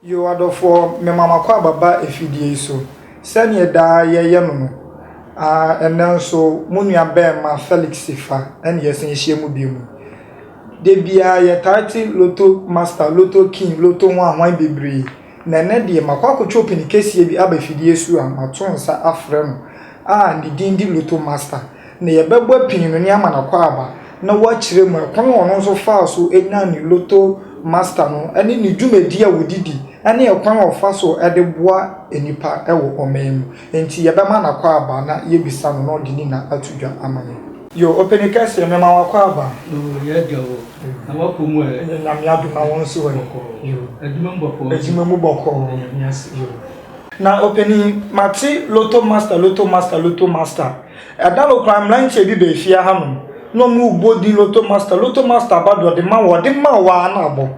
Yiw, adɔfoɔ, mema mo akwaaba ba afidie yi so, sɛdeɛ daa yɛyɛ no no. Aane, ɛnnɛ nso, mo nuabarima Felix fa, ɛne yɛsan ahyia mu bio mu. Da biara yɛtaa te Lotto Master, Lotto King, Lotto ho ahwan bebree, na ɛnnɛ deɛ makɔ akɔtwe ɔpini kɛseɛ bi aba afidie so a mato nsa afrɛ no a ne din de Lotto Master. na yɛbɛbɔ pii no ne ama no akwaaba na wɔakyerɛ mu kwan a ɔno nso faa so nyaa ne Lotto Master no ne ne dwumadi a ɔde di ne kwan a ɔfa so de boa nnipa wɔ ɔman mu. Enti yɛbɛma no akwaaba na yɛabisa no na ɔde ne nna ato dwa ama yɛn. Yo, Ɔpani Kɛseɛ, mema wo akwaaba. Yo, Yɛagya wo, na woakɔ mu ɛ. Yo, Nyame adom na wɔnsi hɔ ɛ. Yo, Adwuma mu bɔkɔɔ. Adwuma mu bɔkɔɔ. Yɛda Nyame ase. Yo. Na ɔpanin, mate lotto master, lotto master, lotto master. Ɛda no koraa mmeranteɛ bi baa fie hanom na wɔrebɔ din lotto master, lotto master aba deɛ ɔde ma wo, ɔde ma wo ara na abɔ.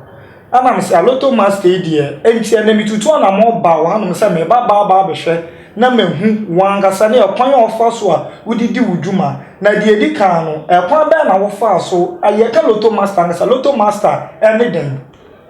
Ɛna me sɛ lotto master yi deɛ, enti ɛnna metutu anammɔn baa wo hanom sɛ mereba aba aba abɛhwɛ na mahu wo ankasa ne ɛkwan a wofa so a wode di wo dwuma. Na deɛ ɛdi kan no, ɛkwan bɛn na wofaa so? Yɛka lotto master ankasa, lotto master ne dɛn?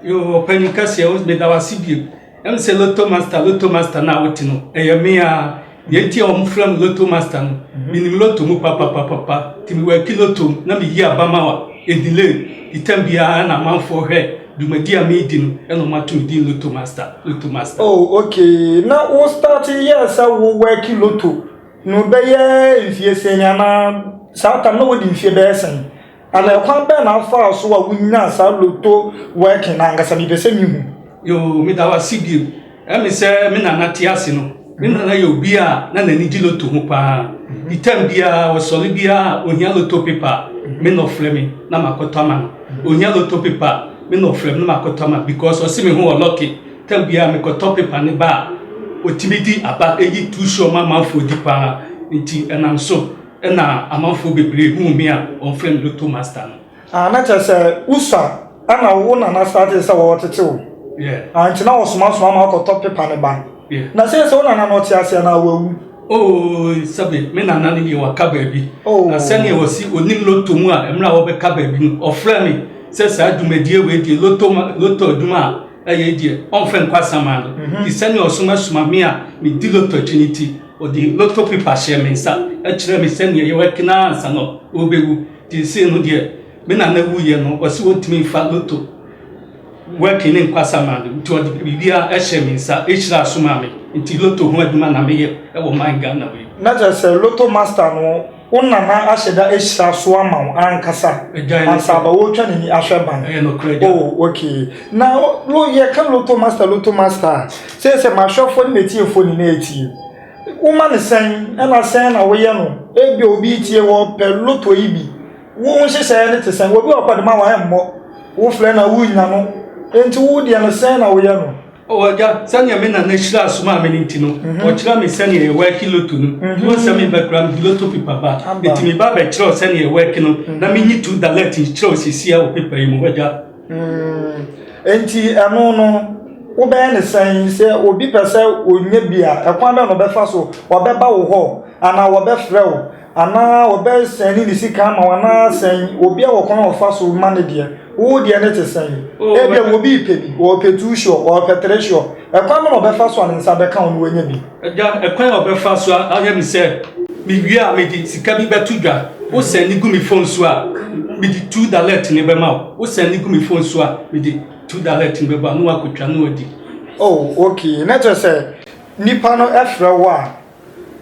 Yoo, ɔpanin kɛseɛ, meda wo ase bio. Ɛm sɛ lotto master lotto master no a wote no ɛyɛ me a deɛ nti a wɔn frɛ me lotto master no menim lotto mu papapapapa nti mewɔ aki lotto mu na meyi aba ma wa edile itam biara na amanfoɔ hwɛ dwumadi a meedi no ɛna wɔn ato me din lotto master lotto master. oh okay na wo start yɛ sɛ wo wɔ aki lotto no bɛyɛ mfie sɛn anaa saa tam na wodi mfie bɛyɛ sɛn Ana ɛkwan bɛn na afaa so a wonyaa saa lotto working no ankasa? Mepɛ sɛ mihu. Yoo, meda wo ase bio. Ɛne sɛ me nana te ase no, me nana yɛ obi a na n'ani gye lotto ho paa. Nti tam biara, ɔsɔre biara a ohia lotto paper a, me na ɔfrɛ me na makɔtɔ ama no. Onnya lotto paper a, me na ɔfrɛ me na makɔtɔ ama no because ɔse me ho wɔ lucky. Tam biara mekɔtɔ paper no ba a, otumi di aba. Eyi tu sure ma amanfoɔ di paa. Nti ɛnam so. Nna amanfoɔ bebree huu me a wɔfrɛ me Lotto Master no. Ah, na kyerɛ sɛ usa na wo nana startee sɛ wɔɔtete wo. Yeah. Ah, nti na wɔsomasoma ma wokɔtɔ pepa no ba. Yeah. Na sɛsɛ wo nana no ɔte ase anaa wawu? Oh, sɛbe me nana no deɛ waka baabi. Oh. Na sɛdeɛ wɔsi onim lotto mu a mmerɛ a wɔbɛka baabi no, ɔfrɛ me sɛ saa dwumadie wei deɛ lotto lotto adwuma a ɛyɛ deɛ ɔmfɛ nkɔ asaman no. Mhm. Nti sɛdeɛ ɔsomasoma me a medi lotto akyi no nti, Ɔde lotto paper hyɛɛ me nsa kyerɛɛ me sɛdeɛ yɛwɔ kenaa ansa na ɔrebɛwu. Nti sei no deɛ me nana wuiɛ no ɔse ɔntumi mfa lotto working ne nkwasa maa me nti ɔde biribiara hyɛɛ me nsa hyira so maa me nti lotto ho adwuma na meyɛ wɔ man Ghana wei. Na kyerɛ sɛ lotto master no Wo nana ahyɛ da ahyira so ama wo ankasa ansa aba wotwa n'ani ahwɛ ban. Oh, okay. Na lo yɛ ka loto master loto master a sɛ sɛ m'ahwɛfoɔ ne m'atiefoɔ nyinaa etie. Woma ne sɛn ɛna sɛn na woyɛ no ebi obi tie wɔ pɛ loto yi bi. Wo nhyehyɛeɛ ne te sɛn obi wɔ kɔde ma wɔn ɛmmɔ wo flɛ na wo nya no enti wo deɛ no sɛn na woyɛ no. O Agya, sɛnea me nana hyira som a me no nti no, mhm. ɔkyerɛ me sɛnea yɛwɛke loto no. Mhm. Mo nsɛm mbɛkora mede loto pepa ba. Eti me ba bɛkyerɛw sɛnea yɛwɛke no, na mhm. menyi tu dalet nkyerɛw sisia wɔ pepa yi mu, Agya. Mm. Enti ɛno no, wobɛyɛ ne sɛn sɛ obi pɛ sɛ ɔnya bi a, ɛkwan bɛn na ɔbɛfa so? Wɔbɛba wo hɔ anaa wɔbɛfrɛ wo? Anaa wɔbɛsɛn ne ne sika ama wo anaa sɛn? Obi a wɔ kwan a ɔfa so ma ne deɛ, wo deɛ no te sɛn? Oh, Ebia wɔ bi repɛ bi, ɔrepɛ two sure, ɔrepɛ three sure. Ɛkwan bɛn na ɔbɛfa so a ne nsa bɛka wo na wanya bi? Agya, ɛkwan a ɔbɛfa so ayɛ me sɛ mewie a mede sika bi bɛto dwa, wo sɛn ne gu me phone so a mede two dalert no bɛma wo, wo sɛn ne gu me phone so a mede two dalert no bɛba na wakɔtwa na wadi. Oh, okay, na kyerɛ sɛ nipa no frɛ wo a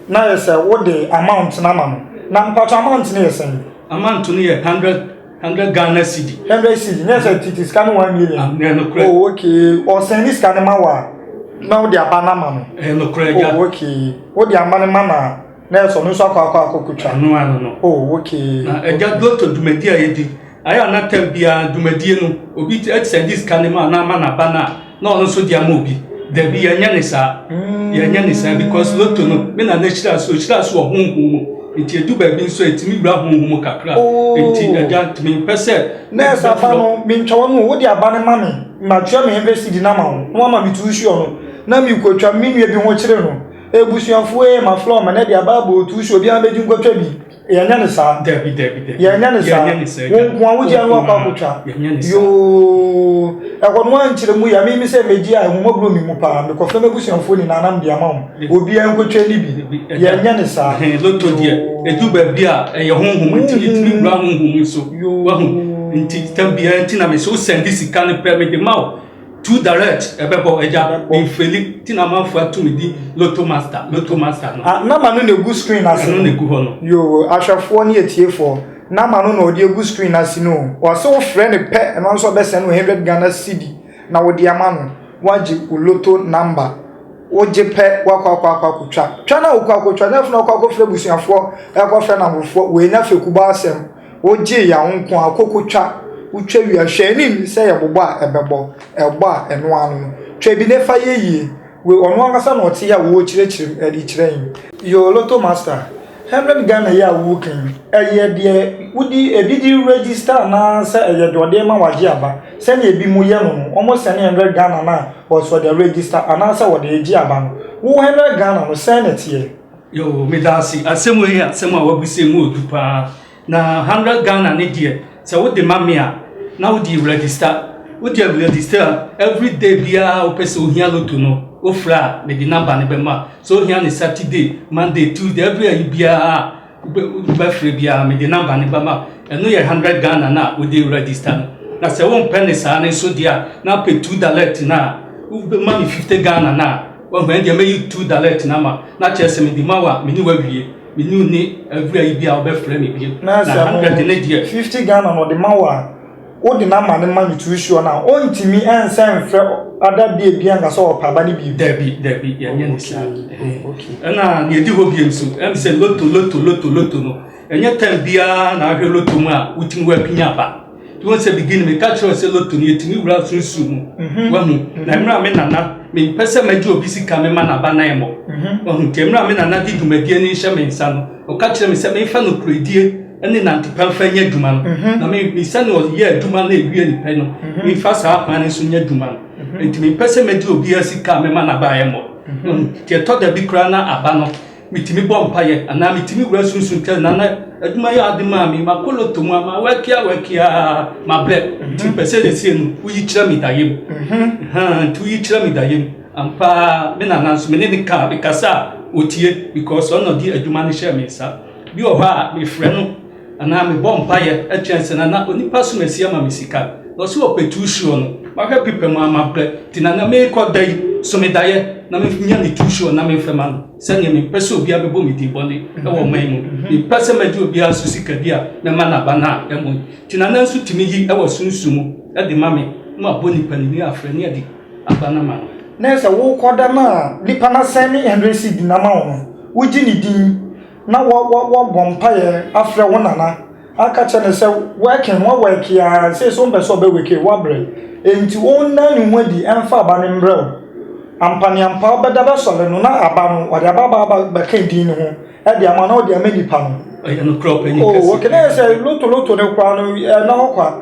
Na yɛ sɛ wo de amount no ama no. Na mpatsɔ amount no yɛ sɛn? Amount no yɛ hundred hundred Ghana cedi. Hundred cedi nyɛ sɛ titi sika no one million. Ah, ɛyɛ nokorɛ. Oh okay, ɔsɛn ne sika no ma wa na wode aba no ama no. Ɛyɛ nokorɛ agya. Oh okay, wode ama no ma na na ɛsɛ ɔno nso akɔ akɔ akɔ kotwa. Ɛno ano no. Oh okay. Na agya dɔtɔ dwumadi a yɛdi. Ayɛ a na tam biara dwumadie no obi sɛnde sika no ma na ama n'aba no a na ɔno nso de ama obi dabi yɛnyɛ ne saa yɛnyɛ ne saa because loto no me na n'ahyira so ɔhyira so wɔ honhom mu nti edu baabi nso ɛtumi wura honhom mu kakra nti agya ntumi mpɛ sɛ nɛɛsa aba no mentwa wɔn mu wode aba no ma me matwerɛ me hundred cedi no ama wo na wama me tu suo no na mekɔtwa me nua bi ho kyere no ebusuafoɔ ee maflɔ ma na de aba abɔ tu suo obiara bɛgye nkɔtwa bi yɛnyɛ ne saa dabi dabi dabi yɛnyɛ ne saa wɔn nko a wogye ano akɔ akotwa yoo ɛhɔ no ankyerɛ mu yɛ mimi sɛ megye a ɛhoma buro mi mu paa mekɔfɛ m'abusuafoɔ nyinaa nam de ama wɔn obiara nkotwa ni bi yɛnyɛ ne saa loto deɛ ɛdu baabi a ɛyɛ honhom nti ɛtumi wura honhom so wahu nti tam biara nti na mesɛ wosɛnde sika no pɛ mede ma wo too direct ɛbɛbɔ agya mfeli ti na amanfo atumi di lotto master lotto master no. Ah, nama no na egu screen ase no. Ɛno na egu hɔ no. Yoo, ahwɛfoɔ ne atiefoɔ, nama no na ɔde egu screen ase no. Wɔase wofrɛ no pɛ, ɛno nso ɔbɛsɛn no 100 Ghana cedi na wode ama no, wagye wo lotto number. Wogye pɛ, wakɔ akɔ akɔ akɔtwa. Twa na wokɔ akɔtwa, nyɛ afei na wokɔ akɔfrɛ abusuafoɔ, ɛkɔfrɛ namfofoɔ, wei nyɛ fekubɔ asɛm. Wogyee yɛn nko ara, kokotwa, wotwa wie a, hwɛ ani nnye sɛ yɛ bobɔ a ɛbɛbɔ, ɛbɔ a ɛno ara no. Twa bi na ɛfa yɛ yie. Wei ɔno ankasa na ɔte yɛ a ɔrekyerɛkyerɛ mu de kyerɛ yɛn. Yoo Lotto Master, hundred Ghana yi a woreka yi, ɛyɛ deɛ wode, ebi de register anaa sɛ ɛyɛ deɛ ɔde rema wagye aba? Sɛdeɛ ebinom yɛ no no, wɔsɛne hundred Ghana no a, ɔse ɔde register anaa sɛ ɔde regye aba no. Wo hundred Ghana no, sɛn na ɛteɛ? Yoo, meda ase. Asɛm wei yɛ asɛm a wabisa mu odu paa. Na hundred Ghana ne deɛ, sɛ wode ma me a, na wode register. Wode register a, every day biara a wopɛ sɛ ohia lotto no, wofrɛ a, mede number no bɛma. Sɛ ohia no Saturday, Monday, Tuesday, every ayi biara a wobɛfrɛ biara, mede number no bɛma. Ɛno yɛ hundred Ghana no a wode register no. Na sɛ wompɛ ne saa no nso deɛ a, na wopɛ two direct no a, wobɛma me fifty Ghana no a, Wahu, ɛnde deɛ mɛyi tu dalɛt no ama, na kyerɛ sɛ mede ma wo a, me ne wo awie. Me ne wo nni awura yi biara a ɔbɛfrɛ me bio. Na hundred no deɛ. Fifty Ghana na ɔde ma wo a, wode no ama no ma no tu sure no a, ɔntumi nsan mfrɛ other day biara nka sɛ ɔpɛ aba no bio? Dabi, dabi, yɛnyɛ no saa. Ɛna deɛ ɛdi hɔ bio nso, ɛne sɛ lotto, lotto, lotto, lotto no, ɛnyɛ time biara na ahwɛ lotto mu a wotumi woapini aba. You want to begin me catch you say lotto ni etimi wura sunsun mu. Mhm. Wahu. Mhm. Na mmerɛ a me nana me mpɛ sɛ magye obi sika me ma n'aba nan mmɔ. Mhm. Wahu nti mmerɛ a me nana de dwumadie ni nhyɛ me nsa no ɔka kyerɛ me sɛ mefa no kuredie ne nantepa mfa nyɛ adwuma no. Na me me sɛnea ɔyɛ adwuma no ewie ne pɛ no mefa saa kwan no so nyɛ adwuma no. Nti mempɛ sɛ magye obiara sika a mema n'aba yɛ mmɔ. Nti ɛtɔ da bi koraa na aba no Mitumi bɔ mpaeɛ anaa metumi wura sunsum kyɛ na na adwuma yɛ ade maa me makoloto mu a mawɛke awɛke a mabrɛ nti mpɛ sɛ na sie no woyi kyerɛ me da yam nti woyi kyerɛ me da yam ampa me nana nso me ne ne ka mekasa a ɔtie because ɔna ɔde adwuma no hyɛ me nsa bi wɔ hɔ a mefrɛ no Anaa mebɔ mpaeɛ atwe ansa na na onipa som asi ama me sika. Na ɔsɛ ɔpɛtu suo no. Mahwɛ pepa mu a mabrɛ. Nti na na merekɔ da yi so me daeɛ na menya ne tu suo na memfa ma no. Sɛdeɛ mempɛ sɛ obiara bɛbɔ me din bɔne wɔ ɔman yi mu. Mempɛ sɛ mɛgye obiara so sika bi a mɛma no aba no a ɛmmɔ yi. Nti na na nso tumi yi wɔ sunsum mu de ma me na wabɔ nipa no din afrɛ ne adi aba no ama no. Na ɛyɛ sɛ worekɔ da no a nipa no asɛne hundred cedi no ama wo no, wogye ne din. na wɔbɔ mpaeɛ afrɛ wo nana aka kyerɛ no sɛ working wɔwɔɛke a sei so wompɛ sɛ ɔbɛwake woabrɛ enti wonna ne ho adi ɛmfa aba no mbrɛ wo ampaneampa wobɛda bɛsɔre no na aba no ɔde aba aba aba bɛka din ne ho ɛde ama na ɔde ama nipa no ɛyɛ no korɔ pɛ ne kɛse wɔkɛnɛ sɛ loto loto ne koraa no ɛna hɔ kwa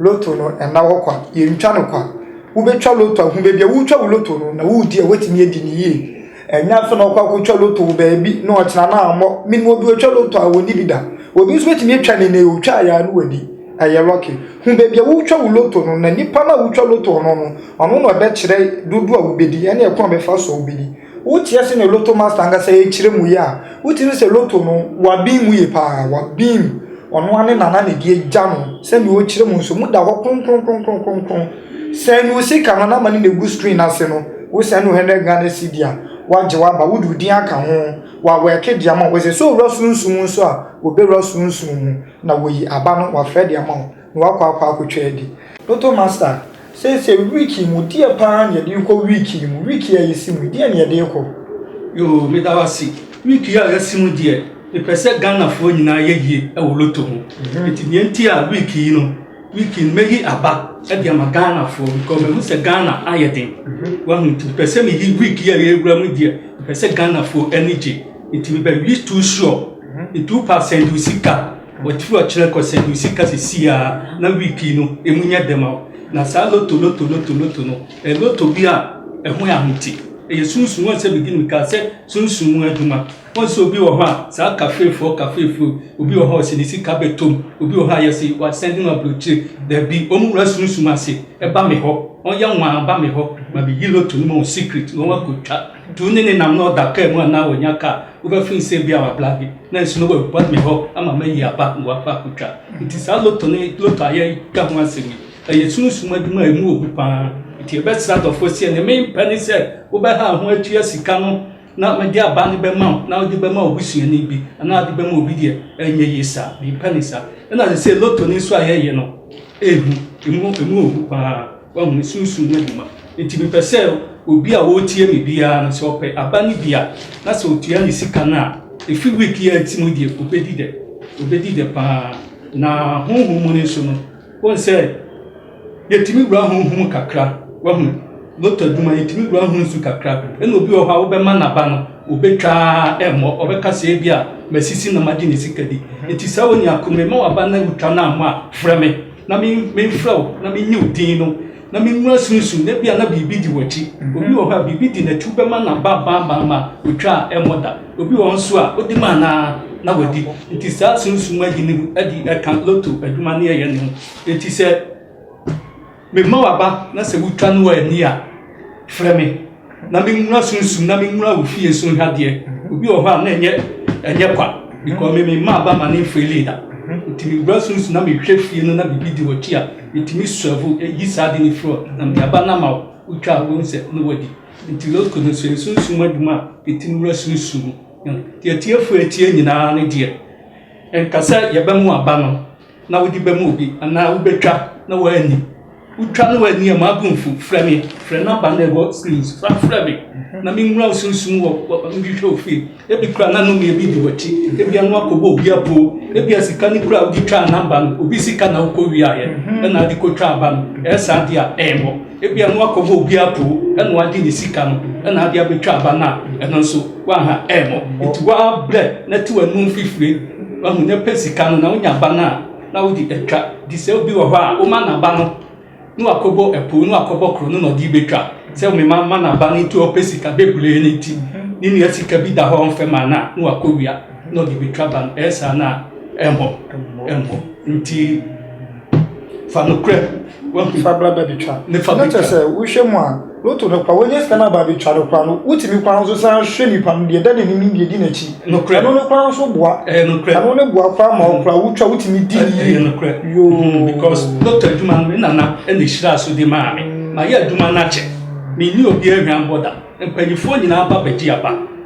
Lotto no nna hɔ kwa, yɛntwa no kwa. Wobɛtwa lotto ahu baabi a woretwa wo lotto no na woredi a woatumi adi no yie. Ɛnyɛ afei na wokɔ akɔtwa lotto wɔ baabi na ɔkyena no ammɔ. Menim obi a ɔtwa lotto a ɔnni bi da. Obi nso bɛtumi atwa no nnɛ yi, ɔtwaeɛ a na wadi. Ɛyɛ lucky. Hu baabi a woretwa wo lotto no na nipa no a wotwa lotto no no, ɔno na ɔbɛkyerɛ dodoɔ a wobɛdi ne ɛkwan a ɔbɛfa so a wobɛdi. Woteɛ se ne lotto master ankasa yɛ kyerɛ mu yɛ a wotumi sɛ lotto no wabin mu yɛ paa wabin mu ɔno ane nana na ɛdi agya no sɛnea ɔkyerɛ mu nso mu da hɔ kronkronkronkronkron sɛn ne osika no na ama ne na egu screen ase no wosɛn no hundred Ghana cedi a wagye waba wode odin aka ho wawɛke de ama wo sɛ sɛ owura sunsum nso a obewura sunsum mu na woyi aba no wafrɛ de ama wo. Na wakɔ akɔ akotwa adi. Lotto master, seesei week yi mu deɛ paa na yɛde rekɔ week yi mu? Week yi a yɛsi mu yi deɛ na yɛde rekɔ? Yoo, meda wo ase. Week yi a yɛasi mu deɛ, mepɛ sɛ Ghanafoɔ nyinaa yɛ yie wɔ lotto ho. Nti deɛ nti a week yi no, week yi no mɛyi aba de ama Ghanafoɔ because mahu sɛ Ghana ayɛ den. Wahu? Nti mepɛ sɛ meyi week yi a yɛwura mu yi deɛ, mepɛ sɛ Ghanafoɔ ani gye. Nti mebɛyi two sure, two percent wo sika. Waturu akyerɛ kɔ sɛ Lucy ka sɛ si ara na week yi no emu nyɛ dɛ ma wo. Na saa loto loto loto loto no, ɛyɛ loto bi a ɛho yɛ ahomte. Ɛyɛ sunsum. Wɔn sɛ beginning kaa sɛ sunsum mu adwuma. Wɔn sɛ obi wɔ hɔ a, saa kafeefoɔ kafeefoɔ yi, obi wɔ hɔ a ɔsɛ ne sika bɛtɔ mu. Obi wɔ hɔ a yɛse wasɛnde no abrokyire. Dabi, wɔn wura sunsum ase. Ɛba me hɔ. Wɔn yɛ nwaa ba me hɔ ma meyi loto no ma wɔn secret na wɔn akɔtwa. Du ne nenam na ɔda kaa mu anaa wanya kaa, wobɛfrɛ no sɛ ebia wabla bi na nsu no waba me hɔ ama mayi aba na wakɔ akɔtwa. Nti saa lotto no lotto a yɛka ho asɛm yi, ɛyɛ sunsum adwuma a ɛmu obu paa. Nti yɛbɛsrɛ adɔfoɔ sɛ deɛ mempɛ ne sɛ wobɛha wo ho atua sika no na mede aba no bɛma wo na wode bɛma wobusuani bi anaa wode bɛma obi deɛ, ɛnyɛ yie saa. Mempɛ ne saa. Ɛna sɛ lotto no nso a yɛyɛ no, ɛhu, ɛmu obu paa. Wahu me sunsum no adwuma. Enti mepɛ sɛ obi a ɔretie me biara no, sɛ ɔpɛ aba no bi a, na sɛ ɔtua ne sika no a, ɛfiri week yi ara ti mu deɛ, ɔbɛdi dɛ. Ɔbɛdi dɛ pa ara. Na honhom mu no nso no, wohu sɛ yɛtumi wura honhom mu kakra. Wahu, lotto adwuma, yɛtumi wura ho nsu kakra. Ɛna obi wɔ hɔ a, wobɛma n'aba no, ɔbɛtwa ara ɛmmɔ. Ɔbɛka sɛ ebi a masisi na magye ne sika di. Enti saa onua ko, mema w'aba no a wotwa no ammɔ a, frɛ me. na memfrɛ wo na mennye wo din no, na menwura sunsum na ebia na biribi di w'akyi. Mhm. Obi wɔ hɔ a biribi di n'akyi bɛma na ba ba ba ma otwa a ɛmmɔ da. Obi wɔ hɔ nso a odi ma na na wadi. Nti saa sunsum ayi ne ho adi ɛka loto adwuma ne ɛyɛ ne ho. Nti sɛ mema waba na sɛ wotwa no wɔ ani a, frɛ me na menwura sunsum na menwura wo fie so nha deɛ mhm. obi wɔ hɔ a na ɛnyɛ ɛnyɛ kwa mhm. because me mema aba ma ne mfiri leader mhm. nti mewura sunsum na mehwɛ fie no na biribi di wɔkyi a metumi sɔfo ɛyi saa de ne firi hɔ na mede aba no ama wo wotwa a wohu sɛ ne wadi nti lotko no so ɛsunsum adwuma a ɛtumi wura sunsum mu deɛ atiefoɔ atie nyinaa ne deɛ ɛnkasɛ yɛbɛmo aba no na wode bɛma obi anaa wobɛtwa na wanni. Wotwa na wanni a, mmaa bo mfu. Frɛ me, frɛ number no a ɛwɔ screen so, fa frɛ me na menwura wo sunsum wɔ nhwehwɛ ofie. Ebi kura na nnome ebi di w'akyi, ebi ano akɔbɔ obi apoo, ebi a sika no kura a wode twaa number no, obi sika na wokɔ wiaeɛ ɛna wode kɔtwaa ba no. Ɛyɛ saa deɛ a, ɛyɛ wɔ. Ebia na wakɔbɔ obi apoo na wagye ne sika no na ade abɛtwa aba no a, ɛno nso woaha ɛmmɔ. Nti woabrɛ na te w'anum fifire, wahu na pɛ sika no na wonya aba no a, na wode atwa. Nti sɛ obi wɔ hɔ a woma n'aba no na wakɔbɔ apoo na wakɔbɔ koro no na ɔde bɛtwa sɛ wo mema ma n'aba no nti ɔpɛ sika bebree no nti ne nua sika bi da hɔ ɔmfɛ ma no a na wakɔwia na ɔde bɛtwa ba no ɛyɛ saa no a ɛmmɔ ɛmmɔ nti Fa nokorɛm, wahu. Fa bra bɛtwa. Ne fa bɛtwa. Na kyerɛ sɛ wohwɛ mu a loto no kora wɔnyɛ sika no aba bɛtwa no kora no wotumi kwan nso san hwɛ nipa no deɛ ɛda n'anim ne deɛ di n'akyi. Nokorɛ. Ɛno no kora nso boa. Ɛyɛ nokorɛ. Ɛno ne boa kora ma ɔkora wotwa wotumi di yie. Ɛyɛ nokorɛ. Yoo. Mm, because loto adwuma no me nana ɛna ehyira so de maa me. Ma yɛ adwuma no akyɛ. Me ni obi ahwan bɔda. Mpanyifoɔ nyinaa ba bɛgye aba.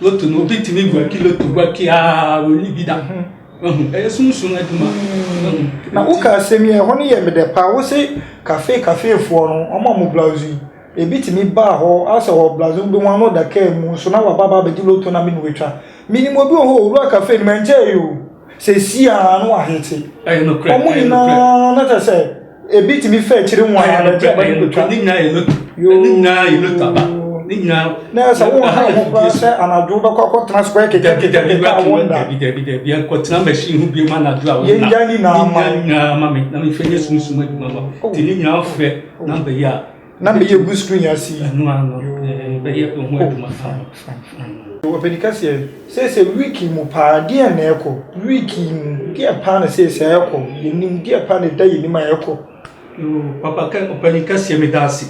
Loto no obi tumi guaki loto guaki aa wɔnni bi da mhm. wahu ɛyɛ sunsun adwuma mhm. na woka asɛm yi ɛhɔ no yɛ medɛ paa wo se kafe kafeefoɔ no ɔma mo blouse yi ebi tumi baa hɔ asɛ wɔ blouse no wobɛhu ano da kaa mu so na wababa abɛgye loto na mene watwa menim obi wɔ hɔ owura kafe no mankyɛɛ yi o sɛ si a na wahete ɔmo nyinaa na kyɛ sɛ ebi tumi fɛ akyiri mu a na ɛkyɛ bɛ ne betwa ne nyinaa yɛ loto ne nyinaa yɛ loto aba ne nyinaa na sɛ wɔn ha wɔn kora sɛ anadwo bɛkɔ akɔtena square kete kete kete a wɔn da dabi dabi dabi akɔtena machine ho biem anadwo a wɔn da yɛn gya nyinaa ma me na me fɛ yɛ sunsun adwuma ma te ne nyinaa fɛ na bɛyɛ a na meyɛ gu screen ase yi ɛno ano bɛyɛ ɛho adwuma fine fine fine ɔpɛni kɛseɛ sɛsɛ week mu paa deɛ na ɛkɔ week mu deɛ paa na sɛsɛ ɛkɔ yɛnim deɛ paa na ɛda yɛnim a ɛkɔ papa kɛ ɔpɛni kɛseɛ meda ase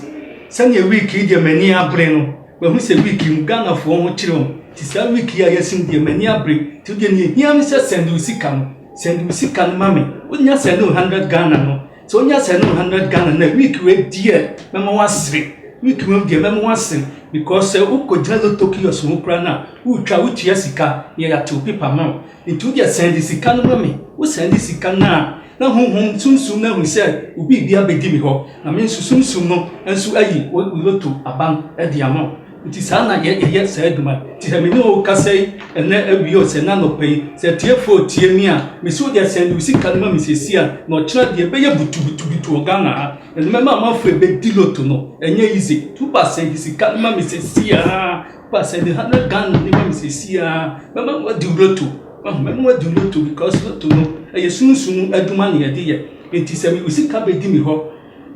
sɛdeɛ week yi deɛ m'ani abere no mahu sɛ week mu ghanafoɔ ho kyerɛ mu nti saa week yi a yɛsim deɛ m'ani abere nti deɛ ne ɛhia me sɛ sɛnde wo sika no sɛnde wo sika no ma me wonya sɛnde wo 100 ghana no Sɛ onya seventy hundred Ghana na week wei deɛ mɛma wasere week wei deɛ mɛma wasere because sɛ wokɔgyina lotto kiosk ho koraa no a wotwa wotua sika na yɛate wo paper ma wo nti wo deɛ sɛnde sika no ma me wo sɛnde sika no a na honhom sunsum no ahu sɛ wo biribi abɛdi me hɔ na me nso sunsum no nso ayi wo lotto aban de ama wo Nti saa na yɛ yɛ saa adwuma yi. Nti sɛ me ne wo kasa yi ɛnɛ awia o, sɛ ɛnɛ anɔpa yi, sɛ atiefo retie me a, me se wo deɛ sɛn de wo sika no ma me sesie a, na ɔkyena deɛ ɛbɛyɛ butubutubutu wɔ Ghana ha. Na deɛ mɛma amanfoɔ ɛbɛdi loto no, ɛnyɛ easy. Nti wo ba sɛn de sika no ma me sesie a, wo ba sɛn de hundred Ghana no ma me sesie a, mɛma wo adi loto. Wahu, mɛma wo adi loto because loto no, ɛyɛ sunsum adwuma na yɛde yɛ. Nti sɛ me wo sika bɛdi me hɔ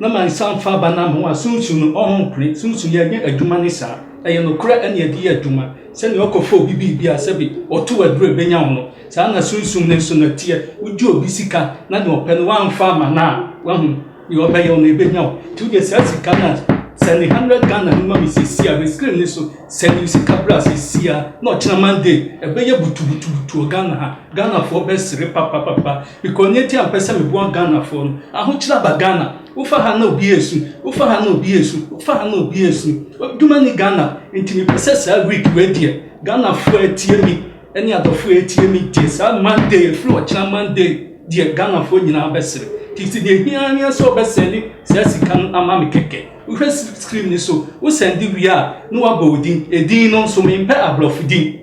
Na ma nsa mfa aba nam ho a Sunsum no ɔho mpene. Sunsum yɛ nyɛ adwuma ne saa. Ɛyɛ nokorɛ ɛne ɛde yɛ adwuma. Sɛdeɛ ɔkɔ fa obi biribi a sɛbi ɔto wo aduro ɛbɛnya wo no, saa na Sunsum no nso no ɛteɛ. Wo gye obi sika na deɛ ɔpɛ no wamfa ama no a, wahu, deɛ ɔbɛyɛ wo no ɛbɛnya wo. Nti wo deɛ saa sika no a, sɛne hundred Ghana no ma me seesei a, me screen no so, sɛne wo sika bra seesei a, na ɔkyena Monday ɛbɛyɛ butubutubutu wɔ Ghana ha. Ghanafoɔ bɛsere papapapa. Because nea enti a mepɛ sɛ meboa Ghanafoɔ no, ahokyerɛ aba Ghana. Wofa ha na obi resu, wofa ha na obi resu, wofa ha na obi resu. Adwuma nni Ghana. Enti mepɛ sɛ saa week wei deɛ, Ghanafoɔ a ɛtie me ne adɔfoɔ a ɛtie me deɛ, saa Monday, ɛfiri ɔkyena Monday deɛ, Ghanafoɔ nyinaa bɛsere. Nti sɛ deɛ ɛhia ara ne sɛ wobɛsɛne saa sika no ama me kɛkɛ. Wohwɛ screen no so, wosɛnde wie a, na wɔabɔ wo din. Edin no nso, mempɛ aborɔfo din.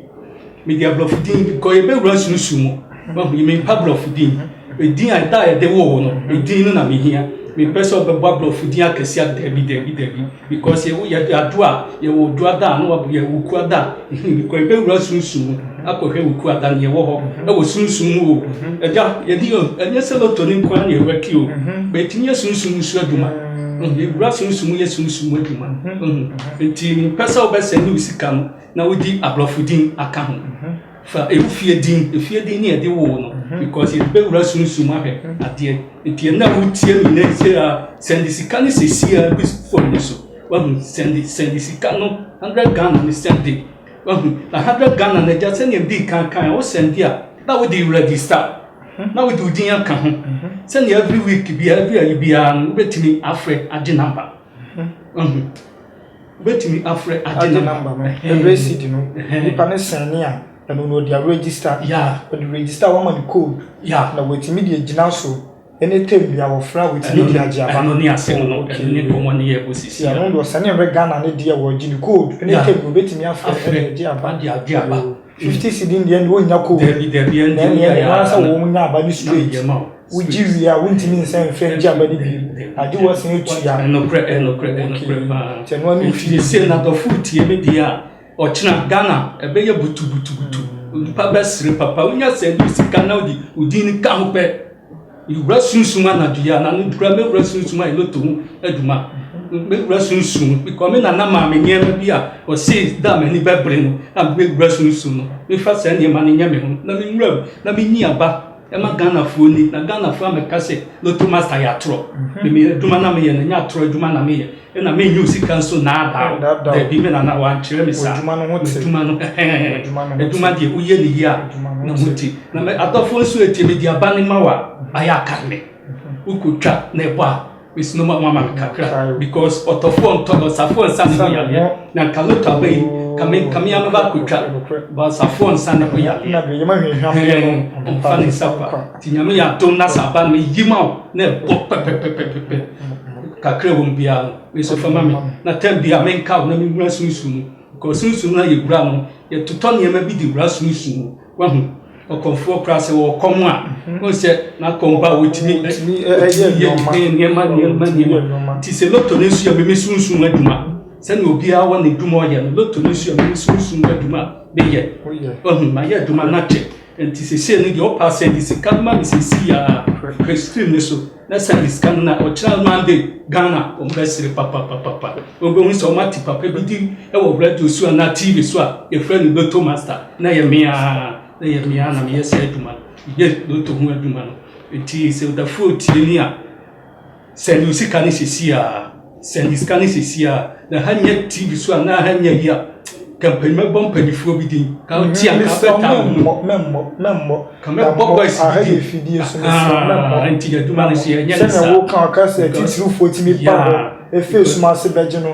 Mede aborɔfo din bi kɔ yɛbɛwura susu mu. Wahu yi mempa aborɔfo din. Edin a da a yɛde woo wo no, edin no na mehia. Mempɛ sɛ wobɛbɔ aborɔfo din akɛse a dabi dabi dabi because yɛwo yɛde ado a yɛwɔ odu ada a na wabɔ yɛ woku ada a mhm bi kɔ yɛbɛwura susu mu akɔhwɛ woku ada no yɛwɔ hɔ ɛwɔ susu mu o ɛda yɛde o ɛnyɛ sɛ loto ne nko ara na yɛwura ki o bɛtumi yɛ susu mu so adwuma yɛwura susu mu yɛ susu mu adwuma nti mempɛ sɛ wobɛsɛ ne wo sika no na wodi aborɔfo din aka ho fa ɛmu fie din efie din ne ɛde woo no because yɛde bɛwura sunsum ahwɛ adeɛ nti ɛnna wotie me nɛ sɛ a sɛnde sika no sɛsi a bi fam no so wahu sɛnde sɛnde sika no hundred Ghana no sɛnde wahu na hundred Ghana no agya sɛnea mdi kan kan a wo sɛnde a na wode register na wode wo din aka ho sɛnea every week biara every ayi biara no wobɛtumi afrɛ agye number wahu Wobɛtumi afrɛ agye namba no ɛrɛsidi no nipa no sɛne a ɛno no ɔde arɛgyista ɔde rɛgyista a wama no code na watumi de agyina so ɛne tɛm bia wɔfrɛ a watumi de agye aba ɛno ne asɛm no ɛno ne nkɔmmɔ ne yɛɛbɔ sisi ɛno deɛ ɔsane mmerɛ Ghana ne deɛ wɔgye no code ɛne tɛm no ɔbɛtumi afrɛ ɛde agye aba Fifty cedi no deɛ wo nya koom. Dabi dabi ɛnde wo yɛ yaa na wo nya aba no straight. Wo gye wie a wo ntumi nsan mfɛ ngye aba no bio. Agye wo asan atu ya. Ɛnokorɛ ɛnokorɛ ɛnokorɛ paa. Nti ɛno ano fi. Nti sɛ nadɔfo retie me deɛ a ɔkyena Ghana ɛbɛyɛ butu butu butu. Nipa bɛsere papa. Wo nya sɛ bi sika na wo de wo din no ka ho pɛ. Me wura sunsum anadwo yi a na no kura me wura sunsum ayɛ loto ho adwuma me wura sunsum bikɔ me nana maa me nneɛma bi a ɔsee da a m'ani bɛbere no na me wura sunsum no mefa saa nneɛma no nyɛ me ho na me nwura mu na menyi aba ɛma Ghanafoɔ ni na Ghanafoɔ amɛka sɛ loto master yɛ atorɔ me me adwuma na meyɛ no ɛnyɛ atorɔ adwuma na meyɛ Ɛna me nyiw sika nso naadaa wo. Dabi me nana wankyerɛ me saa. Adwuma no ho te. Adwuma no ɛhɛn. Adwuma deɛ woyɛ ne yie a ne ho te. Na me adɔfoɔ nso etie me de aba ne ma wo a ayɛ akae me. Wokotwa na ɛbɔ a mesi no ma wɔn ama me kakra because ɔtɔfoɔ ntɔ ɔsafoɔ nsa ne ho yareɛ. Na nka lotto aba yi nka me nka me ara mɛba akotwa but ɔsafoɔ nsa ne ho yareɛ. Ɛna deɛ yɛma hwehwam deɛ no ɔmfa ne nsa kwa. Nti Nyame yɛ adom na sɛ aba no me yi ma wo na ɛbɔ pɛpɛpɛpɛpɛ kakra wɔm biara no me nso fama me na tam biara me nka wo na me wura sunsun mu kɔ sunsun na yɛ wura no yɛ totɔ nneɛma bi de wura sunsun mu wahu ɔkɔmfoɔ koraa sɛ wɔwɔ kɔm a mhm. wɔn sɛ n'akɔm ba wɔtumi ɛyɛ nneɛma nneɛma nneɛma ti sɛ loto ne nso yɛ meme sunsun adwuma sɛnea obiara wɔ ne dwuma ɔyɛ no loto ne nso yɛ meme sunsun adwuma meyɛ wahu mayɛ adwuma no akyɛ Enti sesei no deɛ ɔpɛ a sɛnde sika no ma me sesei a hwɛ stream no so na sɛnde sika no na ɔkyerɛ no ande Ghana wɔn bɛsere papapapapa wɔbɛhu sɛ wɔn ate papa bi di wɔ radio so anaa TV so a yɛfrɛ no Lotto Master na yɛ me ara na yɛ me ara na meyɛ saa adwuma no yɛ Lotto ho adwuma no enti sɛ ɔdafoɔ tieni a Send wo sika no sesie aa. Send sika no sesie aa na ha nyɛ TV so a na aha nyɛ ayi a ka mpanyin mɛbɔ mpanyifoɔ bi din ka ti a ka bɛ ta wɔn mu mɛmmɔ mɛmmɔ ka mɛbɔ boys bi din ahaa nti adwuma no so yɛ nyɛ ne saa sɛnɛ wo ka ɔka sɛ titirifoɔ tumi ba hɔ efie suma ase bɛgye no.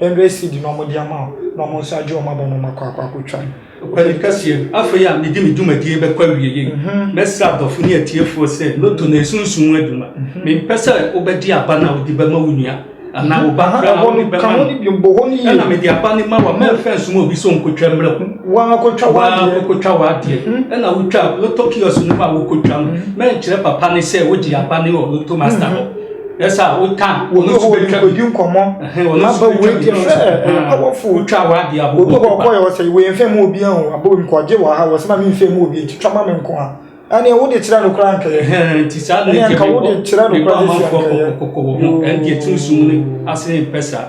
Hundred cedi na wɔde ama wo na wɔn nso agye wɔn aba na wɔakɔ akɔ akɔtwa no. Kweli kɛseɛ no, afei a mede me dwumadie rebɛkɔ awieɛ yi, mɛsrɛ adɔfo ne atiefoɔ sɛ lotto no ɛnsunsum wo adwuma. Mempɛ sɛ wobɛgye aba no a wode bɛma wo nua anaa wo ba koraa na wode bɛma me. Ɛna mede aba no ma wo a, mɛmfa nsoma obi sɛ ɔnkɔtwa mmra wo. Wo ara kɔtwa w'adeɛ. Wo ara kɔtwa w'adeɛ. Ɛna wotwa lotto kiosk no mu a wokɔtwa no, mɛnkyerɛ papa no sɛ wogye aba no wɔ lotto master hɔ. ɛsɛ a wotan wɔn nso bɛtwa bi kɔdi nkɔmmɔ wɔn nso bɛtwa bi hwɛ awɔfo wotwa wɔ ade a obi wɔ kɔ yɛ ɔsɛ wɔ yɛn fɛn mu obi ahun abɔ wɔn kɔ gye wɔ ha wɔ sɛma mi nfɛn mu obi nti twa ma mi nko ha ɛnna wo de kyerɛ no kora nkɛyɛ nti saa de nka wo de kyerɛ no kora de kyerɛ nkɛyɛ ɛnna ɛtiri sum ne ase mpɛ saa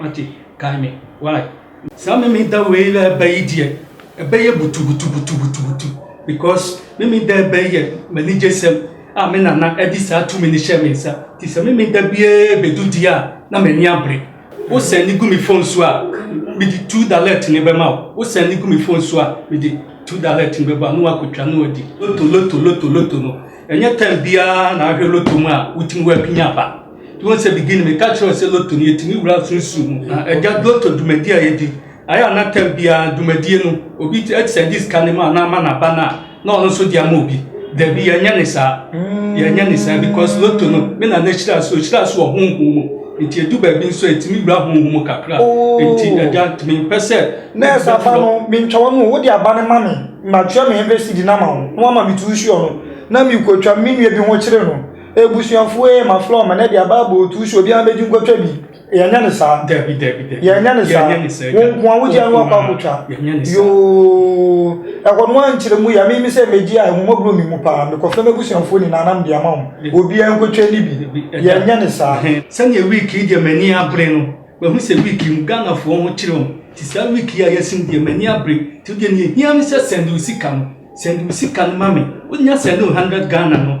Wate? Kae me. Why? Saa Memeda wei a ɛba yi deɛ, ɛbɛyɛ butubutubutubutubutu because Memeda a ɛba yi yɛ m'anigyesɛm a me nana de saa tumi no hyɛɛ me nsa nti sɛ Memeda biara bɛdu deɛ a, na m'ani abere. Wo sɛn no gu me phone so a, mede two dalert no bɛma wo. Wo sɛn no gu me phone so a, mede two dalert no bɛma wo na woakɔtwa na woadi. Loto, loto, loto, loto no, ɛnyɛ time biara na ahwɛ loto mu a wotumi w'apini aba. nti wɔn sɛ beginning mi ka kyerɛ sɛ loto no yɛtumi wura sunsun mu na ɛgya loto dwumadie a yɛdi ayɛ anatam biara dwumadie no obi ɛtisɛ di sika ne mu anaa ama n'aba no a na ɔno nso de ama obi dabi yɛnyɛ ne saa mm. yɛnyɛ ne saa because loto no me na n'ahyira so ɔhyira so wɔ honhom mu nti edu baabi nso etumi wura honhom mu kakra oh. nti ɛgya tumi mpɛ sɛ nɛɛsɛ aba no mentwa wɔn mu wode aba ne ma me matua me ɛbɛsi di na ma wo na wama me tuusuo no na mekɔtwa me nua bi ho kyerɛ no Ebusuafoɔ ee ma floor ma na ɛde aba abɔ otu so obiara bɛgye nkɔtwa bi yɛnyɛ ne saa dabi dabi dabi yɛnyɛ ne saa yɛnyɛ ne saa wo nko a wogye ano akɔ akɔtwa yɛnyɛ ne saa yoo ɛhɔ no ankyerɛ mu yɛ mimi sɛ megye a ɛho mɔborɔ mi mu paa mekɔfrɛ m'abusuafoɔ nyinaa nam de ama wɔn obiara nkɔtwa ni bi yɛnyɛ ne saa sɛdeɛ week yi deɛ m'ani abere no mahu sɛ week yi mu Ghanafoɔ ho kyerɛ wɔn ti saa week yi a yɛasi mu deɛ m'ani abere ti wodeɛ neɛ hia ne sɛ sɛnde wo sika no sɛnde wo sika no ma me wonya sɛnde wo 100 Ghana no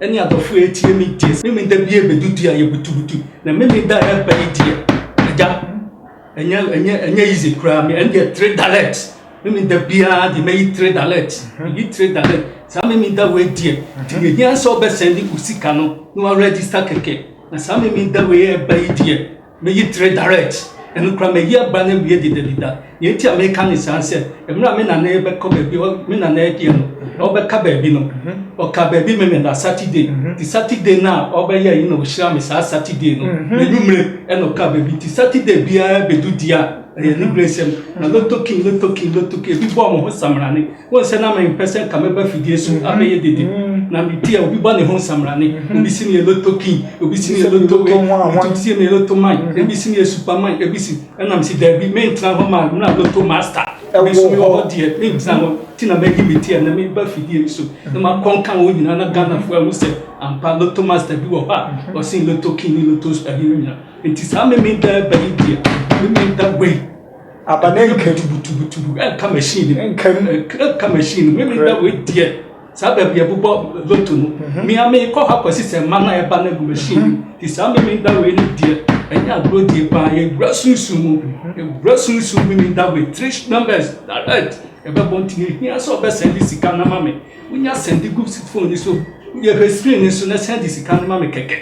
Ɛne adɔfo a etie me deɛ. Sɛ Memeneda bi ɛbɛdu deɛ a yɛbutubutu na Memeneda a ɛba yi deɛ Agya ɛnyɛ ɛnyɛ ɛnyɛ easy koraa me ɛne deɛ three dallet Memeneda biara deɛ mɛyi three dallet meyi three dallet saa Memeneda wei deɛ nti deɛ hia sɛ ɔbɛsɛnde wo sika no na wa register kɛkɛ na saa Memeneda wei a ɛba yi deɛ Meyi tere direct, ɛno koraa mayi aba no awie dedadeda. Nea enti a meka ne saa ne sɛ, mmerɛ a me nana rebɛkɔ baabi, me nana deɛ no, ɔbɛka baabi no, ɔka baabi me meda Saturday. Nti Saturday no a ɔbɛyɛ yi na ɔhyira me saa Saturday no, n'anwummere ɛna ɔka baabi. Nti Saturday biara bɛdu deɛ a, ɛyɛ ne berɛsɛm. Na lotto king, lotto king, lotto king, ebi bɔɔ mo ho samena ne. Wohu sɛ na mempɛ sɛ nka mɛba fidie so abɛyɛ dede. Na mete a obi bɔ ne ho nsamrane. Obi si me yɛ loto king, obi si me yɛ loto wei, obi si me yɛ loto man, ebi si me yɛ superman, ebi si. Ɛna mese daabi, mentena hɔ ma mmra loto master. Me nso mewɔ hɔ deɛ, mentena hɔ. Nti na mayi me ti a na meba fidie yi so na makɔ nka wɔn nyinaa na Ghanafoɔ ahu sɛ ampa loto master bi wɔ hɔ a ɔsen loto king ne loto ahe no nyinaa. Nti saa Memenda ba yi deɛ, Memenda wei. Aba na ɛnka tubu tubu tubu ɛnka machine nim ɛnka mu ɛnka machine nim mimi da wei deɛ saa baabi ɛbobɔ loto no mhm. mia mi kɔ hɔ akɔsi sɛ mma na ɛba na gu machine nim mhm. ti saa mimi da wei no deɛ ɛnyɛ agorɔ die paa yɛwura sunsun mu yɛwura mhm. sunsun mimi da wei three numbers direct ɛbɛbɔ nti ehia sɛ ɔbɛ sɛndi sika na ma mi wonya sɛndi gu phone ni so yɛhwɛ screen ni so na sɛndi sika na ma mi kɛkɛ.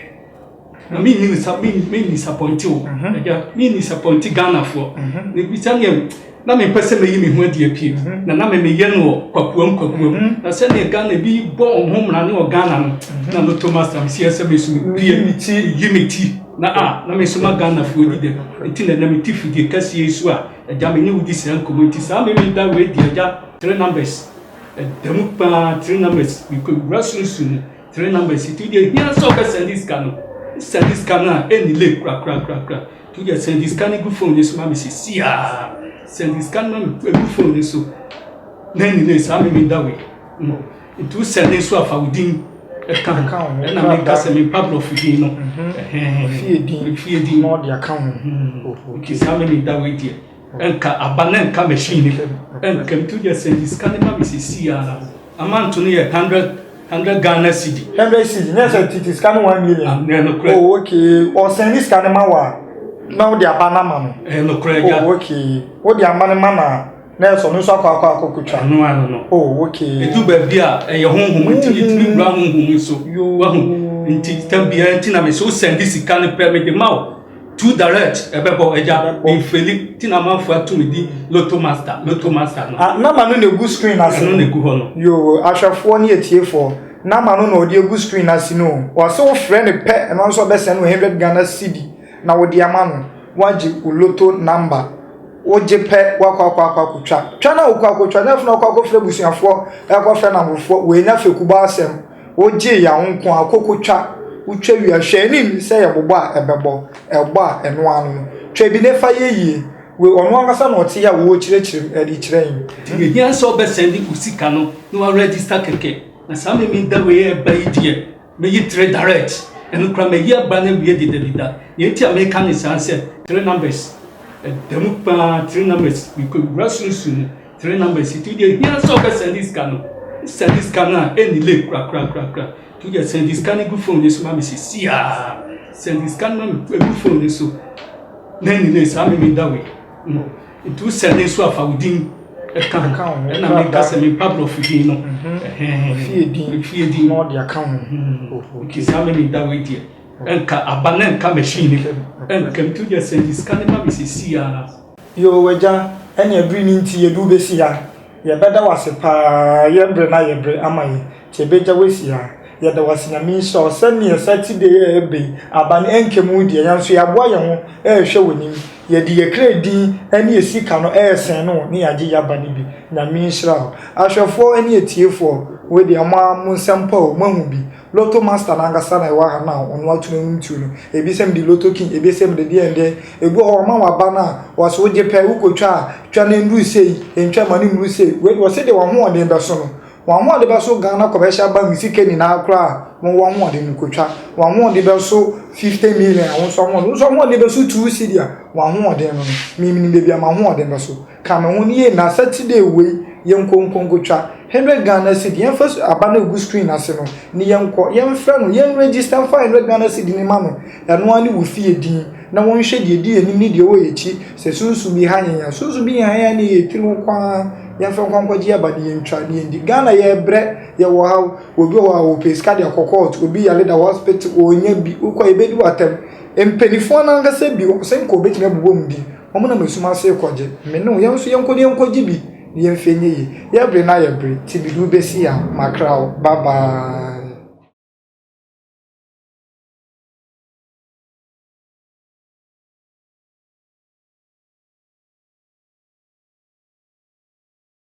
na mi nni nisa mi mi nisapɔnti o mhm. ɛgya mi nisapɔnti ghanafoɔ mhm. ebi sɛdeɛ na mi mpɛ sɛ mi yi mi ho adi apie mhm. na na mi mi yɛ no wɔ kwakuam kwakuam na sɛdeɛ ghana ebi bɔ wɔn ho mmara ne wɔ ghana no na no to ma sam si ɛsɛ mi so mi pie mi ti yi mi ti na a ah, na mi nso ma ghanafoɔ di dɛm eti na na mi ti fidie kɛseɛ so a ɛgya mi ne wodi saa nkɔmɔ eti saa mi mi da wei di ɛgya three numbers ɛdɛm paa three numbers mi kɔ wura sunsun mu. Three numbers yi to deɛ hia sɛ ɔbɛsɛnde sika no sɛnde sika no a ɛnni late korakorakorakora to deɛ sɛnde sika no gu phone no so ma me sisi a sɛnde sika no ma me ɛgu phone no so na ɛnni late saa meme da wei no nti wosɛnde nso afa wo din ɛka ho ɛna meka sɛ mempa borɔfo din no fie din na ɔde aka ho nti saa meme da wei deɛ Nka aba na nka machine ne fam. Nka metu deɛ sɛ nti sika ne ba me sisi ara. Amanto no yɛ hundred hundred Ghana cedi. Hundred cedi nyɛ sɛ titi sika ne one million. Ah, ɛyɛ nokorɛ. Oh, okay. Ɔsɛn ne sika ne ma wa na wode aba no ama no. Ɛyɛ nokorɛ gya. Oh, okay. Wode ama no ma na na ɛsɔ no nso akɔ akɔ akɔ kotwa. Ano ano no. Oh, okay. Edu baabi a ɛyɛ honhom nti mm-hmm. etumi wura honhom nso. Wahu nti tam biara nti na me so sɛn de sika ne pɛ me de ma o. Too direct ɛbɛbɔ agya mi nfeli ti na amanfo atumi di loto master loto master no. Ah, nama no na egu screen ase. Ɛno na egu hɔ no. Yoo, ahwɛfoɔ ne atiefoɔ, nama no na ɔde egu screen ase no. Wɔase wofrɛ no pɛ, ɛno nso ɔbɛsɛn no 100 Ghana cedi na wode ama no. Wagye wo loto number. Wogye pɛ, wakɔ akɔ akɔ akotwa. Twa na wokɔ akotwa, nyɛ afei na wakɔ akɔfrɛ abusuafoɔ, ɛkɔfrɛ namfofoɔ, wanya fekubɔ asɛm. Wogyee yɛn nko ara, koko twa, wotwa wie a, hwɛ ani nni sɛ yɛbobɔ a ɛbɛbɔ, ɛbɔ a ɛno ara no. Twa bi na fa yɛ yie. Wei, ɔno ankasa na ɔte yɛ a ɔrekyerɛkyerɛ mu de kyerɛ yɛn. Nti ehia sɛ wobɛsɛnde wo sika no na woarɛgyista kɛkɛ. Na saa Memen da wei a ɛreba yi deɛ, mɛyi tre direct. Ɛno koraa mayi aba no awie dedadeda. Nea nti a mereka ne saa ne sɛ, tre numbers, ɛda mu pa ara, tre numbers, mekɔwura sunsum mu. Three numbers yi to deɛ hia sɛ ɔbɛsɛnde sika no sɛnde sika no a ɛnni late korakorakorakora to deɛ sɛnde sika no gu phone no so ma me sisi a sɛnde sika no ma me ɛgu phone no so na ɛnni late saa meme da wei no nti wosɛnde nso afa wo din ɛka ho ɛna meka sɛ mempa borɔfo din no fie din fie din na ɔde aka ho nti saa meme da wei deɛ ɛnka aba na ɛnka machine ɛnkam to deɛ sɛnde sika no ma me sisi a Yoo Agya, ɛneɛ bere ni nti yɛde wo bɛsi ha. Yɛbɛda wo ase paa, yɛ bere na yɛ bere ama yɛn nti yɛbɛgya wo asi ha. Yɛda wo ase, Nyame nhyira wo sɛdeɛ Saturday yi a ɛreba yi aba no ɛnkɛm wo deɛ, yɛn nso yɛaboa yɛn ho ɛrehwɛ w'anim. Yɛde yɛn kra din ɛne yɛn sika no ɛresɛn no wo ne yɛagye y'aba no bi. Nyame nhyira wo. Ahwɛfoɔ ɛne atiefoɔ, wei deɛ mo ara mo nsɛm pa o, moahu bi. Lotto master no ankasa na ɛwɔ ha na ɔno ato no nom tuo no. Ebi sɛ mede lotto king, ebi sɛ mede deɛ deɛ. Ebi wɔ hɔ ɔma wo aba no a, wɔse wogye pɛ, wokɔtwa a, twa na ɛnnuru sei, ntwa ma no mmuru sei. Wei deɛ wɔse deɛ w'ahoɔden bɛso no. W'ahoɔden bɛso Ghana commercial bank sika nyinaa koraa a, wowɔ w'ahoɔden no kɔtwa. W'ahoɔden bɛso 50 million a, wo nso w'ahoɔden, wo nso w'ahoɔden bɛso two cedi a, w'ahoɔden no no. Me, menim baabi a m'ahoɔden bɛso. Ka me ho no yie na Saturday wei yɛnkɔ nkonkotwa hundred Ghana cedi yɛnfa su aba no a egu screen ase no ne yɛnkɔ yɛnfrɛ no yɛn register nfa hundred Ghana cedi no ma no ɛno ara ne wo fie din na wɔnhwɛ deɛ edi yɛn anim ne deɛ ɛwɔ yɛn akyi sɛ sunsum bi ha yɛn a sunsum bi nha yɛn a ne yɛ tiri ho kwan ara yɛnfa nkɔ nkɔgye aba ne yɛntwa ne yɛndi Ghana yɛbrɛ yɛwɔ haw obi wɔ hɔ a ɔpɛ sika de akɔ court obi yare da hospital ɔnya bi wokɔ a yɛbɛdi wo atɛm mpanifoɔ no ankasa bi ɔsɛ nka ɔbɛtumi abobɔ mu din Wɔnam esum ase rekɔgye. Me ne wo, yɛn nso yɛnkɔ na yɛnkɔgye bi na yɛmfa nyɛ yie. Yɛ bere na yɛ bere, te mede wo bɛsi ha, makra wo, bye bye.